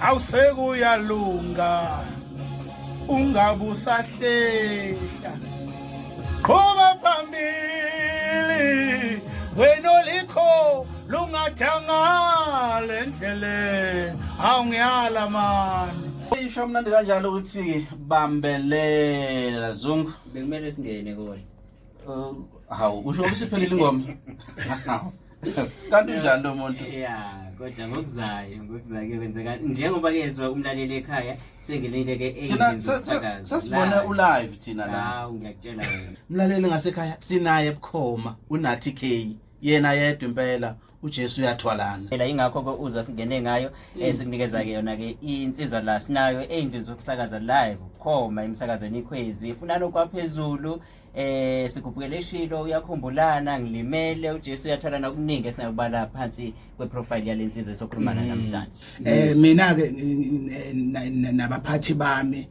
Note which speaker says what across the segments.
Speaker 1: awusekuyalunga ungabusahlehla qhuba phambili wena olikho lungathanga le ndlele awungiyala mani isho mnandi
Speaker 2: kanjalo ukuthi bambelela zungu bekumele singene
Speaker 3: kona
Speaker 2: hawu usho ukuthi siphelile ingoma kanti unjani lo muntu ya kodwa
Speaker 3: ngokuzayo ngokuzayo kuyokwenzeka njengoba kezwa umlaleli ekhaya sengilinde ke sesibona
Speaker 2: ulive thina la hawu ngiyakutshela wena
Speaker 3: mlaleli ngasekhaya
Speaker 2: sinaye ebukhoma unathi k yena yedwa impela uJesu uyathwalana phela ingakho ke uzwa
Speaker 3: singene ngayo mm. esikunikeza ke yona ke insizwa la sinayo eyindlu zokusakaza live khoma emsakazweni ikhwezi ifunana okwaphezulu eh sigubukele ishilo uyakhumbulana ngilimele uJesu uyathola nokuningi esingakubala phansi kweprofile yalensizwe esokhulumana mm. namhlanje eh mina ke
Speaker 1: nabaphathi bami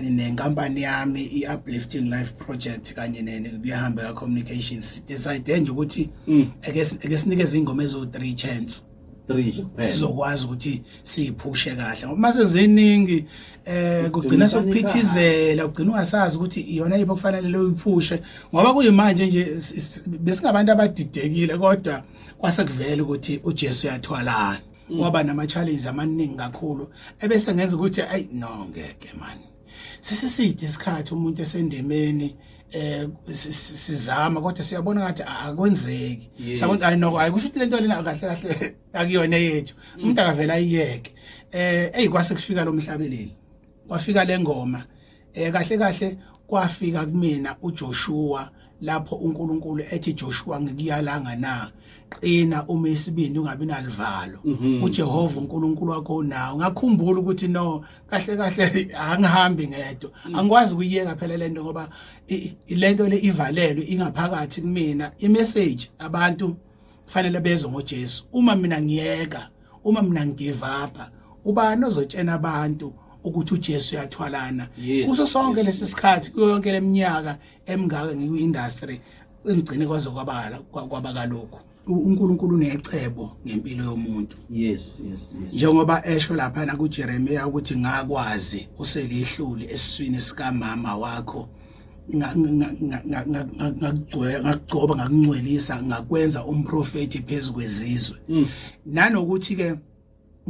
Speaker 1: nenkampani yami i-uplifting life project kanye nekuyahambe ka-communications decide nje ukuthi mm. ake sinikeze ingoma eziwu-three chance 3 nje kuphela
Speaker 2: sizokwazi ukuthi
Speaker 1: siyiphushe kahle ngoba mase ziningi eh kugcina sokuphithizela ugcina ungasazi ukuthi iyona yipho kufanele uyiphushe ngoba kuyimanje nje besingabantu abadidekile kodwa kwase kuvela ukuthi uJesu uyathwalana mm. waba nama challenges amaningi kakhulu ebese ngenza ukuthi ay no ngeke manje sesiside isikhathi umuntu esendemeni eh sizama kodwa siyabona ngathi akwenzeki sabona ayi noko ayikusho ukuthi lento lena kahle kahle akuyona yethu mm. umuntu akavela ayiyeke eh eyi kwase kufika lo mhlabeleli kwafika lengoma eh kahle kahle kwafika kumina uJoshua lapho uNkulunkulu ethi Joshua ngikuyalanga na qina uma isibindi ungabi nalivalo mhm. uJehova uNkulunkulu wakho unawo ngakhumbula ukuthi no kahle kahle angihambi ngedwa mm. angikwazi ukuyeka phela lento ngoba lento le ivalelwe ingaphakathi kumina imessage abantu fanele bezwe ngoJesu uma mina ngiyeka uma mina ngigive up ubani ozotshena abantu ukuthi uJesu uyathwalana kuso sonke lesi sikhathi kuyo yonke leminyaka emngaka ngikwi-industry engigcine kwaze kwabala kwaba kalokhu uNkulunkulu unecebo ngempilo yomuntu yes yes yes
Speaker 2: njengoba
Speaker 1: esho lapha na kuJeremiya ukuthi ngakwazi uselihluli esiswini sikamama wakho ngakugcoba ngakungcwelisa ngakwenza umprofeti phezu kwezizwe mm. nanokuthi ke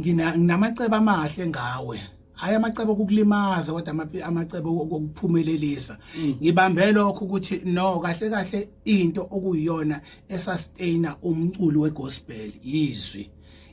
Speaker 1: ngina nginamacebo amahle ngawe hayi amacebo okukulimaza kodwa ama- amacebo okuphumelelisa Mm. ngibambe lokho ukuthi no kahle kahle into okuyiyona esustaina umculi wegospel yizwi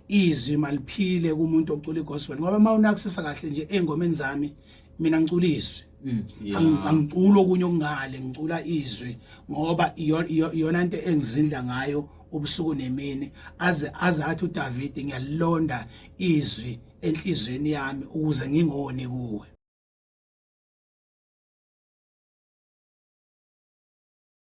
Speaker 1: izwi maliphile kumuntu ocula igospel ngoba uma unakusisa kahle nje engomeni zami mina ngicula izwi mm, angicula okunye okungale ngicula izwi ngoba iyona into engizindla ngayo ubusuku nemini aze azathi uDavid ngiyalonda izwi enhlizweni yami ukuze ngingoni kuwe